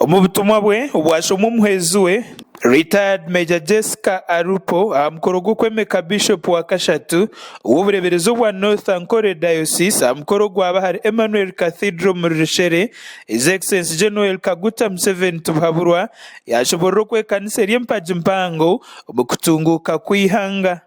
Omu butumwa bwe obwashomwa omuhwezi we, Retired Major Jessica Alupo aha mukoro gw'okwemeka Bishop wa kashatu ow'obureeberezi obwa North Ankole Diocese aha mukoro ogwaba ahari Emmanuel Cathedral omuri Rishele, His Excellency Gen Yoweri Kaguta Museveni Tibuhaburwa yaashoboorora oku ekanisa eri empagi mpango omu kutunguuka kw'eihanga.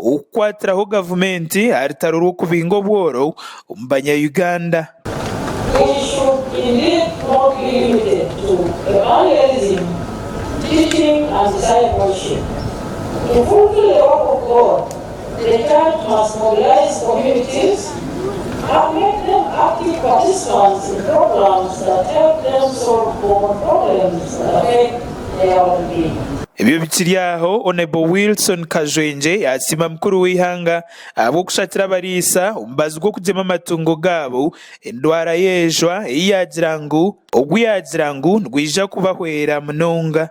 ow'okukwatiraho gavumenti aha rutaro rw'okubinga obworo omu banyayuganda. Ebyo bikiri aho, Onebo Wilson Kajwengye yasiima mukuru w'eihanga ahabw'okushakira abariisa omubazi gw'okugyema amatungo gaabo endwara y'ejwa ei yaagira ngu ogu yaagira ngu nigwija kubahwera munonga.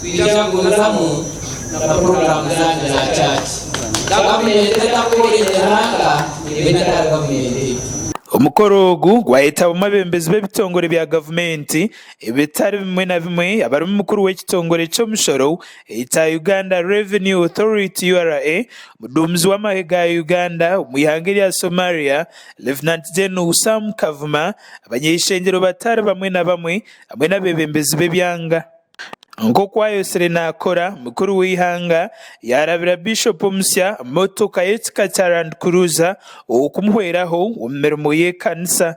Twija kugumizamu na puroguraamu zaanyu za chaaci. Gavumenti etakooreire ihanga eba etarari gavumenti eitu. Omukoro ogu gwayetabamu abebembezi b'ebitongore bya gavumenti ebitari bimwe na bimwe abarimu mukuru w'ekitongore ky'omushoro ekya Uganda Revenue Authority, ura, omuduumizi w'amahe ga Uganda omu ihanga erya Somalia, Lieutenant General Sam Kavuma, abanyaishengyero batari bamwe na bamwe hamwe n'abebembezi b'ebyanga. Nk'oku ayotsire naakora, mukuru w'eihanga yaarabira Bishop omusya motoka y'ekika kya Land Cruiser okumuhweraho omu mirimo y'ekanisa.